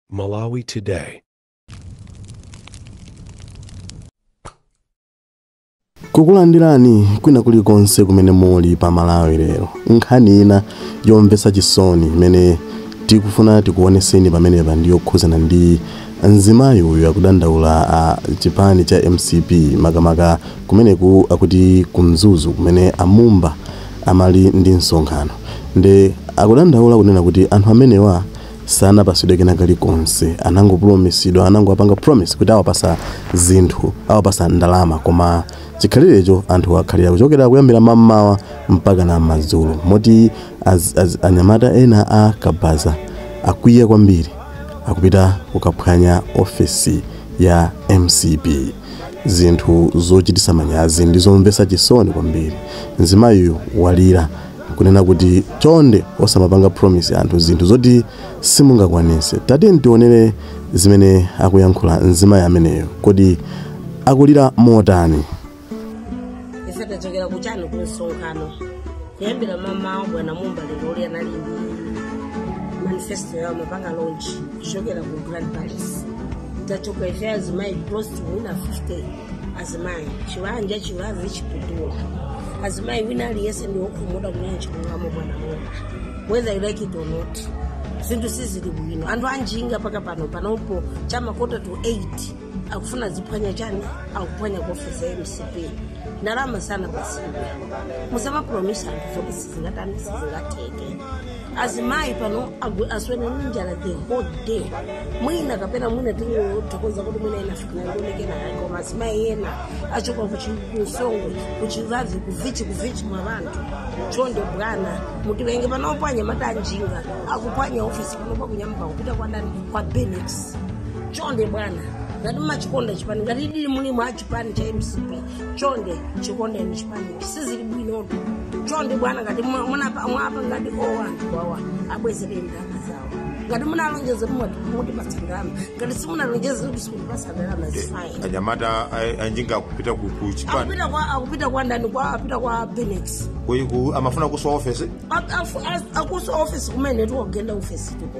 Malawi Today. kukulandirani kwina kulikonse kumene muli pa malawi lero nkhani ina yomvetsa chisoni imene tikufuna tikuoneseni pamenepa ndi yokhuzana ndi mzimayi uyu akudandaula a chipani cha mcp makamaka kumeneku akuti kumzuzu kumene a Mumba anali ndi msonkhano nde akudandaula kunena kuti anthu amenewa sanapasidwe kena kalikonse anangopromisidwa anangowapanga promise kuti awapasa zinthu awapasa ndalama koma chikhalirecho anthu akhalira kuchokera kuyambira mammawa mpaka na madzulo moti az, az, anyamata ena a kabaza akwiya kwambiri akupita kukaphwanya ofesi ya mcp Zinthu zochitisa manyazi ndi zomvesa chisoni kwambiri. Mzimayiyu walira nkunena kuti chonde osamapanga promise anthu zinthu zoti simungakwanise. Tatiyeni tionele zimene akuyankhula mzimayi ameneyu. Kodi akulira motani? Ife tachokera kuchani ku msonkhano kuyambira mamawa bwana Mumba lero anali ndi manifesto yawo amapanga launch kuchokera ku grand palace tachoka ife azimayi close to wina 50 azimayi chiwanja Chibavi Chiputula azimayi wina aliyense ndi wokhumudwa kunena chilungamo bwana Mumba whether you like it or not zinthu sizili bwino anthu anjinga paka pano panopo chamakota to 8 akufuna ziphwanya chani akuphwanya ku ofesi ya mcp ndalama sanapase musamapromisa anthu zoti sizingatani sizingateke azimayi pano agwe- aswera ndi njala the whole day mwina kapena mwina tingothokoza kuti mwina inafikinangonekenayo koma azimayi ena achoka ku chi- ku Songwe ku Chibavi kuvichi kuvichi mwa vanthu chonde bwana mutivenge panopo anyamata anjinga akupwanya ofisi panopo akunyamuka kupita kwa ndani kwa benex chonde bwana ngati mumachikonda chipani ngati dili mulimo a chipani cha mcp chonde chikondeni chipani sizili bwinotu chonde bwana ngati mwa- munapa- mwapa ngati o anthu wawa abwezereni ndalama zawo ngati munalonjeza mutipatsa ndalama ngati simunalonjeze kuti sikutipatsa ndalama zifine anyamata a- anjinga akupita ku ku chipani akupita kwa akupita kwa ndani kwa apita kwa benex Kwe- ku- amafuna kuswa ofesi akuswa office kumene tiwagenda office tipo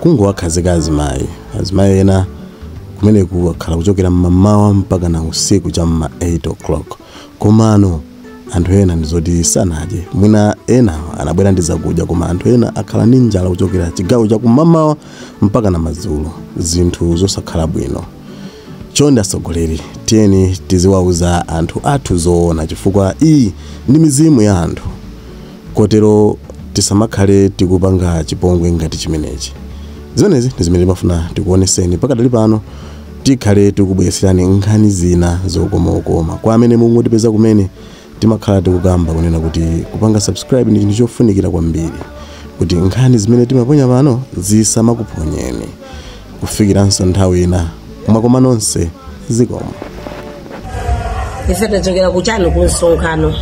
kungowakhazika azimayi azimayi ena kumeneku akhala kuchokera mmamawa mpaka na usiku cha mma 8 o'clock komano anthu ena ndizoti sanadye mwina ena anabwera ndi zakudya koma anthu ena akhala ndi njala kuchokera chigawo cha kumamawa mpaka na madzulo zinthu zosakhala bwino chonde atsogoleri tiyeni tiziwauza anthu athu zoona chifukwa iyi ndi mizimu ya anthu Kotero tisamakhale tikupanga chipongwe ngati chimenechi. Zimenezi ndi zimene timafuna tikuoneseni pakadali pano tikhale tikubweretserani nkhani zina zokomakoma. Kwa amene mungotipeza kumene, timakhala tikukamba kunena kuti kupanga subscribe ndi chinthu chofunikira kwambiri kuti nkhani zimene timaponya pano zisamakuphonyeni. kufikiranso nthawi ina mwakoma nonse zikomo ife tachokera kuchani ku msonkhano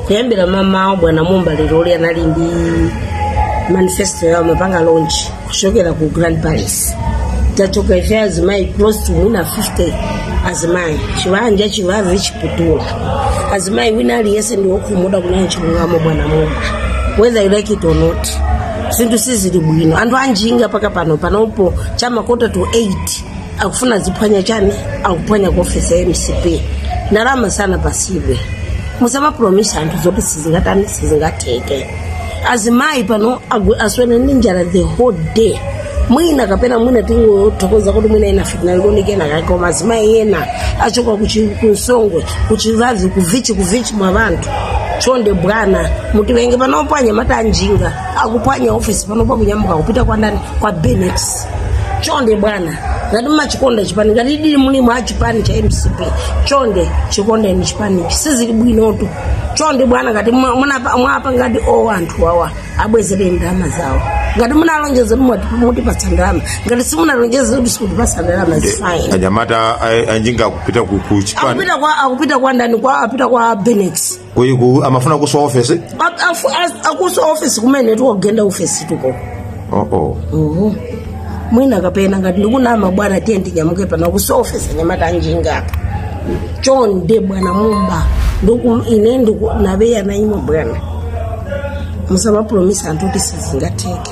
kuyambira mamawo bwana mumba leroli anali ndi manifesto yawo amapanga launch kuchokera ku grand palace tachoka ife azimayi close to mwina 50 azimayi chivanja chivavi chiputula azimayi wina aliyese ndiwokhumudwa kunena chilungamo bwana mumba whether you like it or not zinthu sizili bwino anthu anjinga paka pano panopo chamakota to 8 akufuna aziphwanya chani akuphwanya ku ofesi ya mcp ndalama sanapatsidwe musamapromisa anthu zoti sizingatani sizingatheke azimayi pano agu- aswera ndi njala the whole day mwina kapena mwina tingothokoza kuti mwina ena fitna likoni kena kake koma azimayi ena achoka kuchi- kunsongwe kuchivavi kuvichi kuvichi mwa vanthu chonde bwana mutivenge panopo anyamata anjinga akuphwanya ofisi panopo akunyamuka kupita kwa ndani kwa benex chonde bwana ngati machikonda chipani ngatidi muli mu chipani cha mcp chonde chikondeni chipani sizili bwinotu chonde bwana ngati mwa- munapa- mwapa ngati o anthu awa abwezere ndalama zawo ngati munalonjeza mutipatsa ndalama ngati simunalonjeza kuti sikutipatsa ndalama zifaini anyamata a- anjinga kupita ku ku chipani akupita kwa akupita kwa ndani kwa apita kwa benex Kuyi- ku- amafuna kuswa ofesi akuswa ofesi kumene tikugenda ofesi tuko oh, oh. Uhu. mwina kapena ngati ndikunama bwana tiye ndinyamuke pano kuswa ofesi anyamata anjinga apa chonde bwana mumba ndiku ine ndiku nabeya naimwe bwana musamapromisa anthu zoti sizingatheke